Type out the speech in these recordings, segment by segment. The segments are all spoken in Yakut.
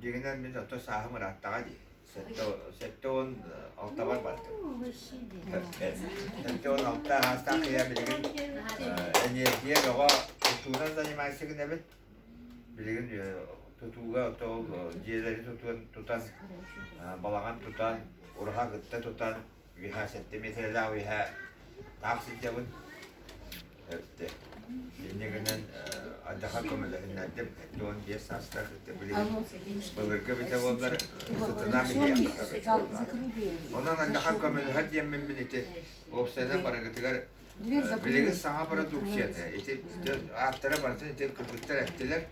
Дьиҥинэн мин өттө сааһым ырааттаҕа дии. Сэттэ сэттэ уон алтабар бардым. Сэттэ уон алта аастаах кыйа билигин эниэргийэ бөҕө тутуунан занимаешься гынабыт. Билигин тутууга ол дьиэлэри тутуон тутан балаҕан тутан, ураһа кытта тутан Миха сентиметрэлаах үһэ таах сылдьабын. Эртэ. Иннигинэн айдаха көмөлөһүннэрдим. Эт уон биэс саастаах билигин былыргы битэ буоллар сытынаах иһиэ. Онон айдаха көмөлөһөр диэммин мин ити уопсайынан барыгытыгар билигин саҥа продукцията ити ааттара барытын ити кыргыттар эттилэр.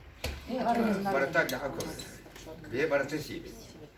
Барыта айдаха көмөлөһөр. Бие барыта сиибит.